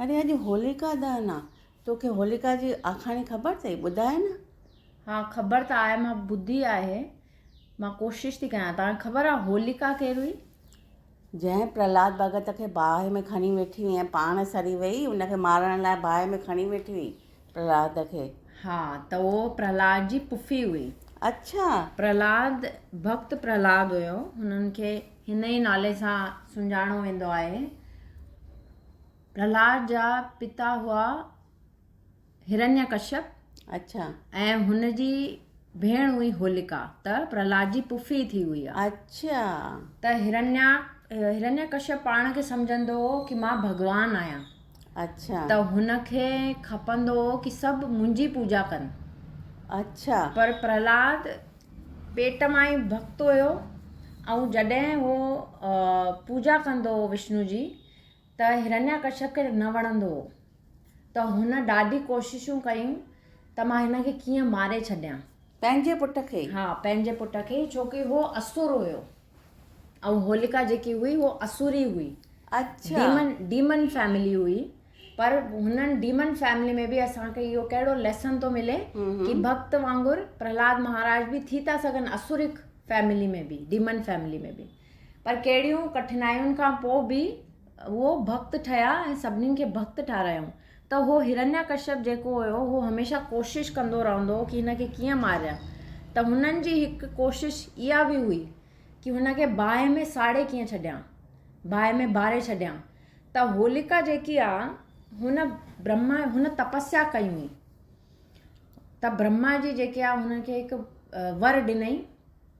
اڙي اڄ هوليڪا دهن آ. توکي هوليڪا جي آکاڻي خبر ٿئي؟ ٻڌاء نه. ها خبر ته آهي مان ٻڌي آهي. مان ڪوشش ٿي ڪيان. توهان کي خبر آ هوليڪا ڪير هئي؟ جنهن پرهلاد ڀڳت کي باهه ۾ کڻي ويٺي هئي ۽ پاڻ سڙي ويئي ان کي مارڻ لاء باهه ۾ کڻي ويٺي هئي. پرهلاد کي. ها ته اهو پرهلاد جي پڦي هئي. اڇا! پرهلاد ڀڪت پرهلاد هيو. هنن کي هن ئي نالي سان سڃاڻو ويندو آهي. پرهلاد جا پتا هئا هرنيا ڪشيپ. اڇا! ۽ هن جي ڀيڻ هئي هوليڪا، ته پرهلاد جي پڦي ٿي هئي ها. اڇا! ته هرنيا، هرنياڪشيپ پاڻ کي سمجهندو هو ڪي مان ڀڳوان آهيان. اڇا! ته هن کي کپندو هو ڪي سڀ منهنجي پوڄا ڪن. اڇا! پر پرهلاد پيٽ مان ئي ڀڳت هيو ۽ جڏهن هو پوڄا ڪندو هو وشنو جي، ته هرنياڪشپ کي نه وڻندو هو ته هن ڏاڍي ڪوششون ڪيون ته مان هن کي ڪيئن ماري ڇڏيان. پنهنجي پٽ کي ئي؟ ها پنهنجي پٽ کي ئي ڇو ڪي هو اسور هيو ۽ هوليڪا جيڪي هئي هوء اسوري هئي. اڇا. ڊيمن ڊيمن فيملي هئي پر هنن ڊيمن فيملي ۾ به اسان کي اهو ڪهڙو ليسن ٿو ملي ڪي ڀڪت وانگر پرهلاد مهاراج به ٿي ٿا سگهن اسوريڪ فيملي ۾ به ڊيمن فيملي ۾ به. پر ڪهڙيون ڪٺنايون کان پوء به هو ڀڳت ٺهيا ۽ سڀني کي ڀڳت ٺارايائون ته اهو هرنيا ڪشيپ جيڪو هيو اهو هميشه ڪوشش ڪندو رهندو هو ڪي هن کي ڪيئن ماريان ته هنن جي هڪ ڪوشش اها به هئي ڪي هن کي باهه ۾ ساڙي ڪيئن ڇڏيان باهه ۾ باري ڇڏيان ته هوليڪا جيڪي آ هن برهما هن تپسيا ڪئي هئي ته برهما جي جيڪي آ هن کي هڪ ور ڏنئي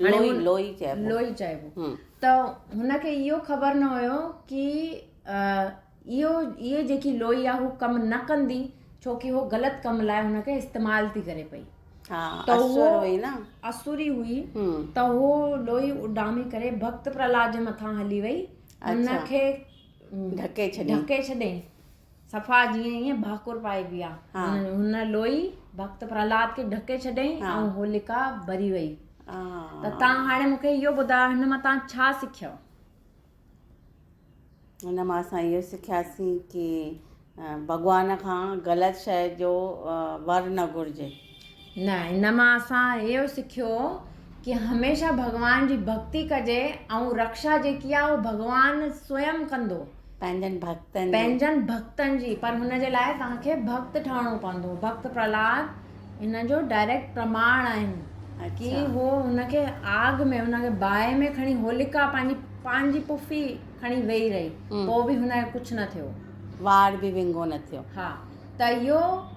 لوئي چئبو ته هن کي اهو خبر نه هيو ڪي اهو اهي جيڪي لوئي آ هو ڪم نه ڪندي ڇو ڪي هو غلط ڪم لاء هن کي استعمال ٿي ڪري پئي اسوري هئي ته هو لوئي اڏامي ڪري ڀڪت پرهلاد جي مٿان هلي وئي هن کي ڍڪي ڇڏي صفا جيئن ائين ڀاڪر پائي پيا. هن لوئي ڀڳت پرهلاد کي ڍڪي ڇڏيائين ۽ هولڪا ٻري وئي. ته تان هاڻي مون کي اهو ٻڌايو هن مان تان ڇا سکيو؟ هن مان اسان اهو سکياسين ڪي ڀڳوان کان غلط شئي جو ور نه گهرجي. نه ان مان اسان اهو سکيو ڪي هميشه ڀڳوان جي ڀڳتي ڪجي ۽ رڪشا جيڪي آ اهو ڀڳوان سوئم ڪندو پنهنجن ڀڳتن جي پنهنجن ڀڳتن جي پر هن جي لاء توهان کي ڀڳت ٺهڻو پوندو ڀڳت پرهلاد ان جو ڊائريڪٽ پرماڻ آهن ڪي اڇا هو هن کي آگ ۾ هن کي باهه ۾ کڻي هوليڪا پنهنجي پنهنجي پڦي کڻي ويهي رهي هم پوء به هن کي ڪجهه نه ٿيو وار به ونگو نه ٿيو ها ته اهو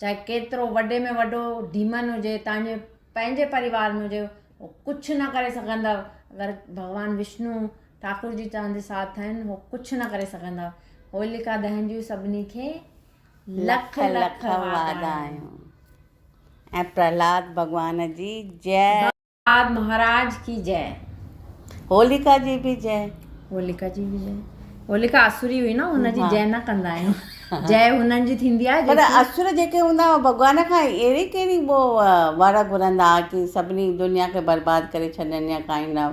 چاهي ڪيترو وڏي ۾ وڏو ڊيمن هجي تانجي پنهنجي پريوار ۾ هجي هو ڪجهه نه ڪري سگهندا اگر ڀڳوان وشنو ٺاڪر جي تنهنجي ساٿ آهن هو ڪجهه نه ڪري سگهندا هوليڪا دهن جون سڀني کي لک لک وادايون ۽ پرهلاد ڀڳوان جي جئه آد مهاراج ڪي جئه. هوليڪا جي به جئه. هوليڪا جي به جئه. هوليڪا اسوري هئي نه هن جي جئه نه ڪندا آهيون. جئه هنن جي ٿيندي آهي جيڪي. پر اسور جيڪي هوندا هئا ڀڳوان کان اهڙي ڪهڙي وڙ گهرندا هئا ڪي سڀني دنيا کي برباد ڪري ڇڏن يا ڪائين نه.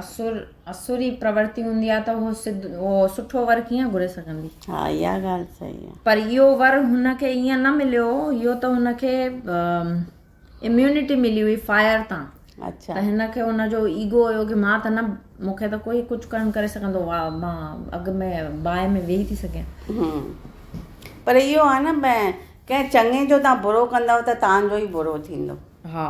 اسور اسوري پرورتي هوندي آهي ته هو سڌ هو سٺو ور ڪيئن گهري سگهندي. ها اها ڳالهه صحيح آهي. پر اهو ور هن کي ائين نه مليو اهو ته هن کي اميونٽي ملي هئي فائر تان اچھا ته هن کي ان جو ايگو هيو ڪي مان ته نه مون کي ته ڪوئي ڪجھ ڪن ڪري سگهندو وا مان اڳ ۾ باهه ۾ ويهي ٿي سگهيان هم پر اهو آهي نه ڀين ڪنهن چڱي جو تان برو ڪندؤ ته تان جو ئي برو ٿيندو ها.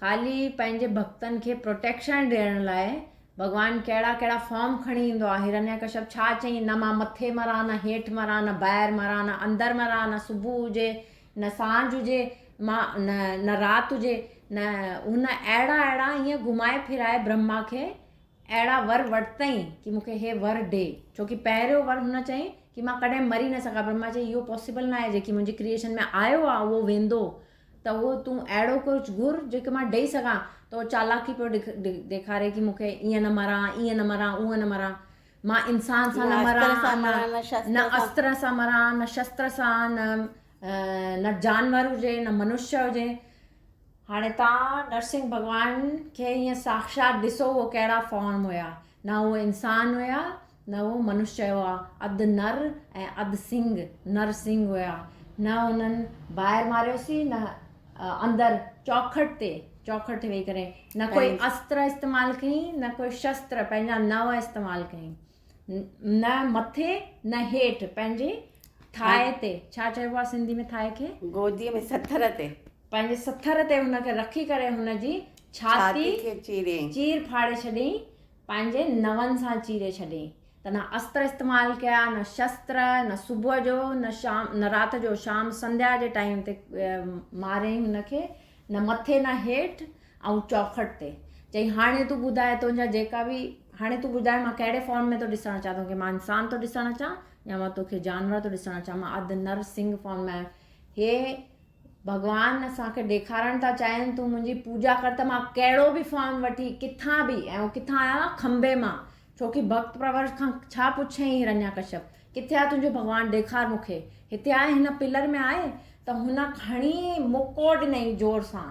خالي پنهنجي ڀڳتن کي پروٽيڪشن ڏيڻ لاء ڀڳوان ڪهڙا ڪهڙا فارم کڻي ايندو آهي هرنياڪشپ ڇا چئي نه مان مٿي مران نه هيٺ مران نه ٻاهر مران نه اندر مران نه صبح هجي نه سانجهه هجي مان نه نه رات هجي نه هن اهڙا اهڙا ائين گهمائي ڦرائي برهما کي اهڙا ور ورتئين ڪي مون کي هي ور ڏي ڇو ڪي پهريون ور هن چئي ڪي مان ڪڏهن مري نه سگهان برهما چئي اهو پاسيبل نه آهي جيڪي منهنجي ڪريئشن ۾ آيو آهي اهو ويندو ته اهو تون اهڙو ڪجهه گهر جيڪي مان ڏئي سگهان ته اهو چالاڪي پيو ڏيکاري ڪي مون کي ائين نه مران ائين نه مران اهون نه مران مان انسان سان نه مران نه استر سان مران نه شستر سان نه نه جانور هجي نه منشيا هجي هاڻي تان نرسنگ ڀڳوان کي ائين ساکشات ڏسو اهو ڪهڙا فارم هيا نه اهو انسان هيا نه اهو منشيه هئا، اڌ نر ۽ اڌ سنگ، نر سنگ، هيا. نه انهن ٻاهر ماريوسين نه اندر چوکٽ تي، چوکٽ تي ويهي ڪري، نه ڪوئي استر استعمال ڪيائين نه ڪوئي شستر، پنهنجا نوء، استعمال ڪيائين. نه مٿي نه هيٺ، پنهنجي ٿاهي تي، ڇا چئبو آهي سنڌي ۾ ٿاهي کي؟ گوديء ۾ سٿر تي. پنهنجي سٿر تي هن کي رکي ڪري هن جي ڇاتي کي چير ڦاڙي ڇڏيائين. پنهنجي نون سان چيري ڇڏيئي ته نه استر استعمال ڪيا نه شستر نه صبح جو نه شام نه رات جو شام سنڌيا جي ٽائيم تي ماريئي هن کي نه مٿي نه هيٺ ۽ چوکٽ تي چئي هاڻي تون ٻڌاء تنهنجا جيڪا به هاڻي تون ٻڌاء مان ڪهڙي فارم ۾ ٿو ڏسڻ چاهيان تونکي مان انسان ٿو ڏسڻ چاهيان يا مان توکي جانور ٿو ڏسڻ چاهيان مان اڌ نر سنگ فارم ۾ آهيان هي ڀڳوان اسان کي ڏيکارڻ ٿا چاهين تون منهنجي پوڄا ڪر ته مان ڪهڙو به فارم وٺي ڪٿان به ۽ هو ڪٿان آيو آهي کنڀي مان ڇوڪي ڀڳت پرورش کان ڇا پڇيائين هرنيا ڪشيپ ڪٿي آهي تنهنجو ڀڳوان ڏيکار مون کي هتي آهي هن پلر ۾ آهي ته هن کڻي مڪو ڏنائين زور سان